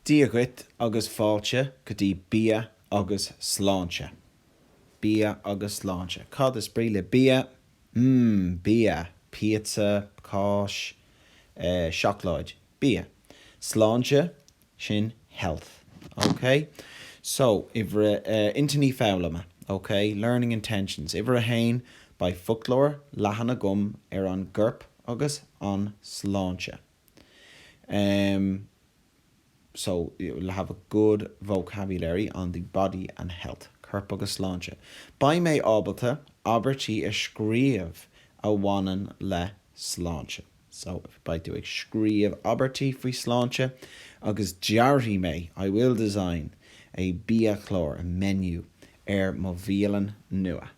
Dia dhuit agus fáilte go dtí Bia agus Sláinte. Bia agus Sláinte. Cad is brí le bia? Mmm, bia! Píotsa, cáis, eh, seacláid. Bia. Sláinte, Sin health. OK? So, uimhir, eh, intinní foghlama. OK? Learning intentions. Uimhir a haon, beidh foclóir leathan agam ar an gcorp agus an tsláinte. Em, so, you'll have a good vocabulary on the body and health. Corp agus sláinte. Beidh mé ábalta abairtí a scríobh a bhaineann le sláinte. So, if, beidh tú ag scríobh abairtí faoi shláinte agus dearfaidh mé, I will design, a biachlár, a menu, ar mo bhialann nua.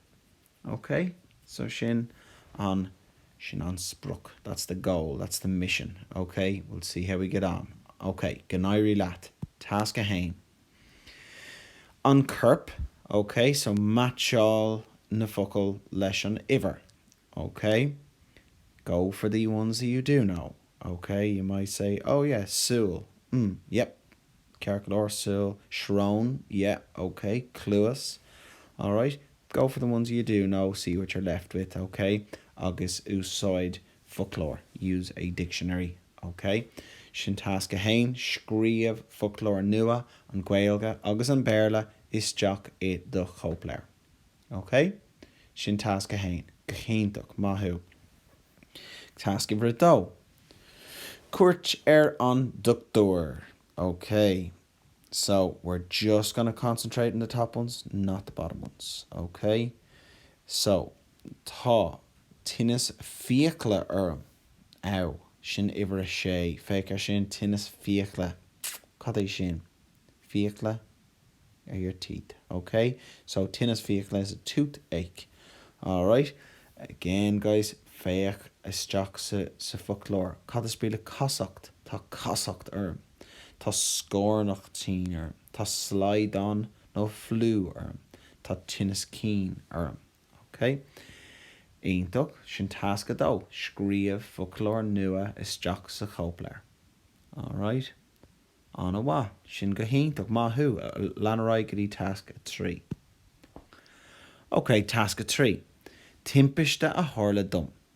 Ok? So sin an, sin an sprioc, that's the goal, that's the mission. Ok? We'll see how we get on. Ok, go n-éirí leat. Tasc a haon. An corp, OK, so meaitseáil na focail leis an uimhir, OK. Go for the ones that you do know, OK. You might say, oh yeah, súil, mm, yep, ceart go leor, súil, srón, yeah, OK, cluas, alright. Go for the ones you do know, see what you're left with, OK, agus úsáid foclóir, use a dictionary, OK? Sin tasc a haon, scríobh foclóir nua, an Ghaeilge agus an Béarla, isteach i do chóipleabhar. OK? Sin tasc a haon. Go hiontach. Maith thú. Tasc uimhir a dó, cuairt ar an dochtúir. OK. So, we're just going to concentrate on the top ones, not the bottom ones, ok? So, Tá tinneas fiacla orm. Ow! Sin uimhir a sé. Féach ar sin, tinneas fiacla. Cad é sin? Fiacla are your teeth, ok? So, tinneas fiacla is a toothache. Alright? Again, guys, féach isteach sa foclóir. Cad is brí le casacht? Tá casacht orm. Tá scornach tinn orm. Tá slaghdán nó fliú orm. Tá tinneas cinn orm. OK. Iontach. Sin tasc a dó. Scríobh foclóir nua isteach sa chóipleabhar. Alright. An-mhaith. Sin go hiontach. Maith thú. Lean ar aghaidh go dtí tasc a trí. OK. Tasc a trí. Timpiste a tharla dom.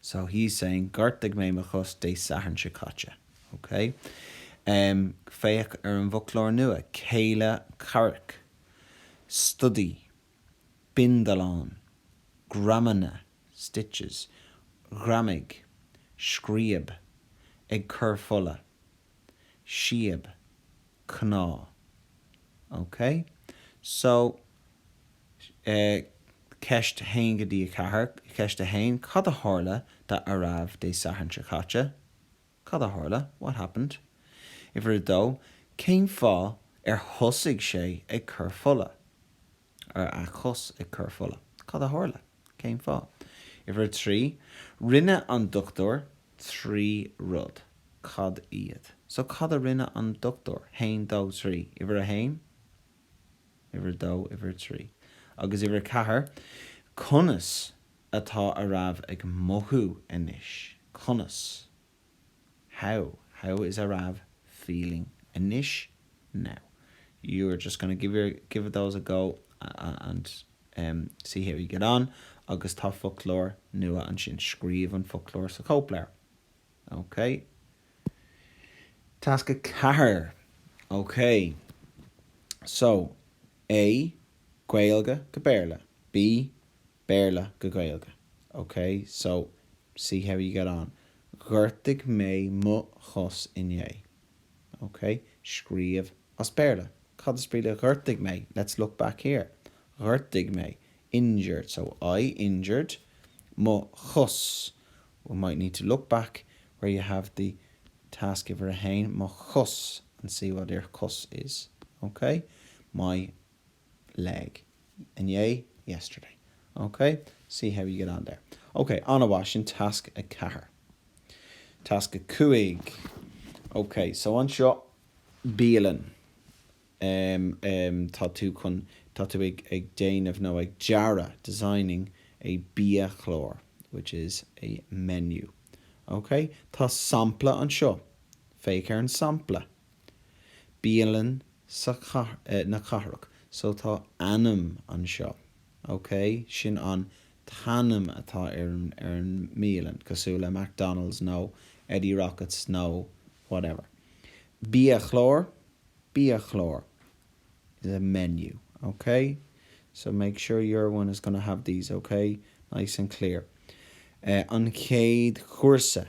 So he's saying Ghortaigh mé mo chos Dé Sathairn seo caite. OK? Em, féach ar an bhfoclóir nua, cé, Lochlannach, stodaí, bindealán, greamanna, stitches, ghreamaigh, scríob, ag cur fola. scríob, cnámh. OK? So, eh, ceist a haon go dtí a ceathair, ceist a haon, cad a tharla d'Aarav Dé Sathairn seo caite? Cad a tharla? What happened? Uimhir a dó, cén fáth ar thosaigh sé ag cur fola? Ar a chos ag cur fola? Cad a tharla? Cén fáth? Uimhir a trí, rinne an dochtúir trí rud. Cad iad? So, cad a rinne an dochtúir? Haon, dó, trí. Uimhir a haon, uimhir a dó, uimhir a trí. Agus uimhir a ceathair, conas atá Aarav ag mothú anois? Conas? How, how is Aarav feeling anois now? You are just gonna give your, give those a go and em see how you get on agus tá foclóir nua ansin, scríobh an foclóir sa chóipleabhar. OK? Tasc a ceathair. OK. So, A, Gaeilge go Béarla. B, Béarla go Gaeilge. OK, so see how you get on. Ghortaigh mé mo chos inné. OK, scríobh as Béarla. Cad is brí le ghortaigh mé? Let's look back here. Ghortaigh mé. Injured. So I injured mo chos. We might need to look back where you have the task giver 1, mo chos, and see what your cos is. OK? My. leg. inné, yesterday. OK? See how you get on there. OK, an-mhaith, sin tasc a ceathair. Tasc a cúig. OK, so anseo, bialann. em, em, tá tú chun, tá tú ag, ag déanamh nó ag dearadh, designing, a biachlár, which is a menu. OK? Tá sampla anseo. Féach ar an sampla. Bialann na Cathrach so tá ainm anseo, ok, sin an t-ainm atá ar an ar an mbialann, cosúil le McDonald's nó Eddie Rockets nó whatever. Biachlár, biachlár is a menu, ok, so make sure your one is gonna have these, ok, nice and clear. An chéad chúrsa.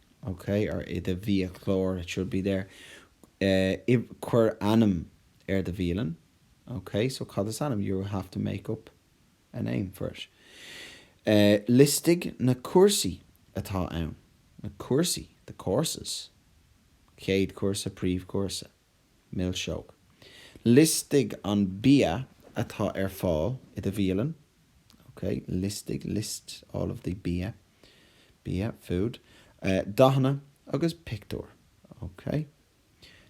OK, or i do bhiachlár, it should be there. Eh, cuir ainm ar do bhialann. OK, so cad is ainm? You have to make up a name for it. Eh, liostaigh na cúrsaí atá ann. Na cúrsaí, the courses. Céad chúrsa, príomhchúrsa. Milseog. Liostaigh an bia atá ar fáil i do bhialann. Ok, liostaigh, list all of the bia, bia, food. Dathanna agus pictiúir. Ok.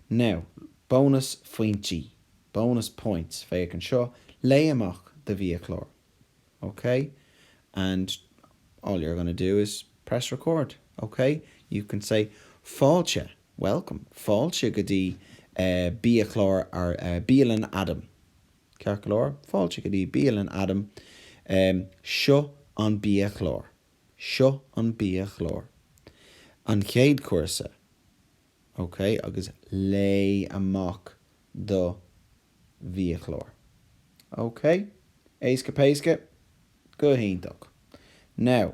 Now, bónas phointí, bonus points, féach anseo, léigh amach do bhiachlár. Ok, and all you're going to do is press record. Ok, you can say fáilte. welcome, fáilte go dtí biachlár or bialann Adam, ceart go leor, fáilte go dtí bialann Adam, seo an biachlár, seo an biachlár, an chéad chúrsa, ok, agus léigh amach do bhiachlár, ok, éasca péasca, go hiontach, now,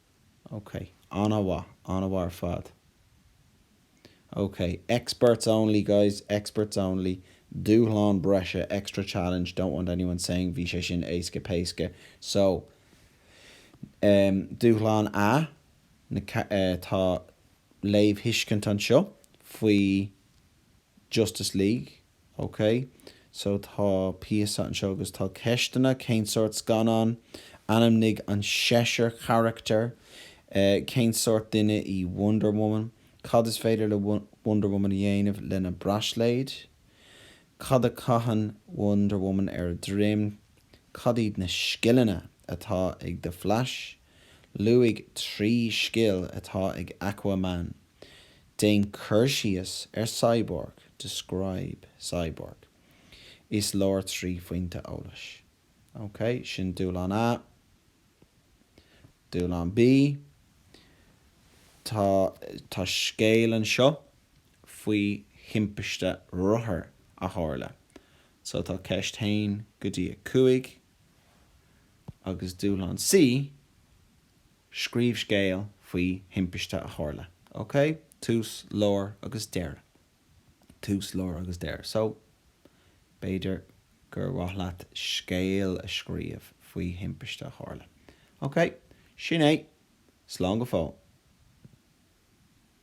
Ok. An-mhaith. An-mhaith ar fad. Ok. Experts only, guys. Experts only. Dúshlán breise, extra challenge, don't want anyone saying bhí sé sin éasca péasca. So, em, Dúshlán A, tá léamhthuiscint anseo faoi Justice League. Ok, so tá píosa anseo agus tá ceisteanna, cén sórt scannán, ainmnigh an seisear carachtar, cén sórt duine í Wonder Woman, cad is féidir le Wonder Woman a dhéanamh lena braisléid, cad a chaitheann Wonder Woman ar a droim, cad iad na scileanna atá ag The Flash, luaigh trí scil atá ag Aquaman. Déan cur síos ar Cyborg, Describe Cyborg. Is leor trí phointe eolais. OK, sin dúshlán A. Dúshlán B, Tá, tá scéal anseo faoi thimpiste rothair a tharla. So tá ceist a haon go dtí a 5. Agus dúshlán C, Scríobh scéal faoi thimpiste a tharla. Ok? Tús, lár agus deireadh. Tús, lár agus deireadh. So, b'fhéidir gur mhaith leat scéal a scríobh faoi thimpiste a tharla. Ok? Sin é! Slán go fóill!